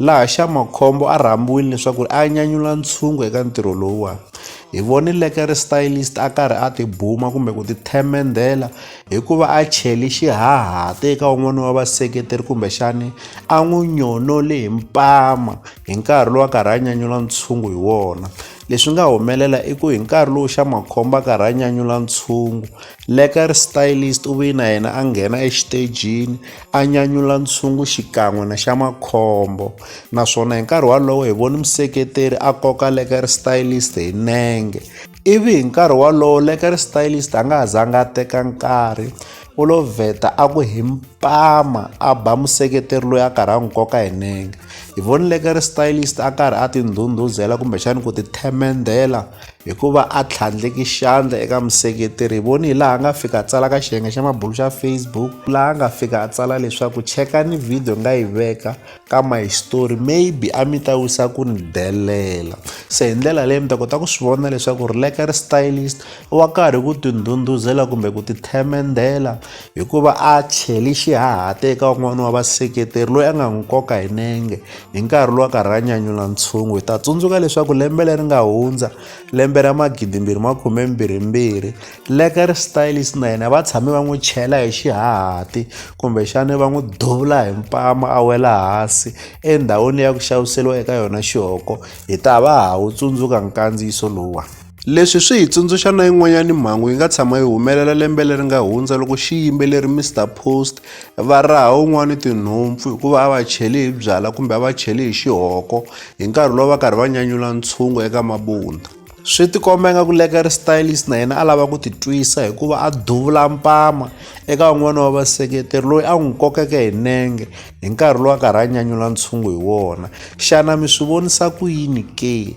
Laha xa makhombo a rhambiwile leswaku a nyanyula ntshungu eka ntirho lowuwani, hi vone Lekere Stylist a karhi a tibuma kumbe ku tithemendhela hi ku va a cheli xihahati eka un'wana wa vaseketeri kumbexani a n'wi nyonole hi mpama hi nkarhi lowu a karhi a nyanyula ntshungu hi wona. Leswi nga humelela i ku hi nkarhi lowu xa makhombo a karhi a nyanyula ntshungu, Lekere Stylist u ve na yena a nghena exitejini a nyanyula ntshungu xikan'we na xa makhombo naswona hi nkarhi wolowo hi voni museketeri a koka leker stylist hi nenge ivi hi nkarhi wolowo leker stylist a nga ha zanga a teka nkarhi u lo vheta a ku hi mpama a ba museketeri loyi a karhi a n'wi koka hi nenge hi voni leker stylist a karhi a tindhundhuzela kumbexani ku ti themendhela hikuva a tlhandleki xandla eka museketeri hi voni hi laha a nga fika a tsala ka xiyenge xa mabulu xa facebook laha a nga fika a tsala leswaku chekani video nga yi veka ka my story maybe a mi ta wisa ku ni delela se hi ndlela leyi mi ta kota ku swi vona leswaku ri leka ri stylist wa karhi ku tindhundhuzela kumbe ku tithemendela hikuva a cheli xihahate eka un'wana wa vaseketeri loyi a nga n'wi koka hi nenge Hi nkarhi lowa karhi ra nyanyula ntshungu hi ta tsundzuka leswaku lembe leri nga hundza lembe ra magidimbirhi makhumembirhimbirhi leka ri stylist na yena va tshame va n'wi chela hi xihahati kumbexani va n'wi duvula hi mpama a wela hansi endhawini leyi ya ku xaviseriwa eka yona xihoko hi ta va ha wu tsundzuka nkandziyiso lowuwani Leswi swi hi tsundzuxa na yin'wanyana mhangu yi nga tshama yi humelela lembe leri nga hundza loko xiyimbeleri Mister Post va raha un'wana tinhompfu hikuva a va cheli hi byala kumbe a va cheli hi xihoko hi nkarhi lowu va karhi va nyanyula ntshungu eka mabunda. Swi tikomba ingaku Lekker Stylist na yena a lava ku titwisa hikuva a duvula mpama eka un'wana wa vaseketeri loyi a n'wi kokeke hi nenge hi nkarhi lowu a karhi a nyanyula ntshungu hi wona. Xana mi swi vonisa ku yini ke?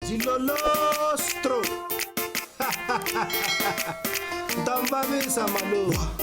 Jilolostro. Tambavisa maluwa.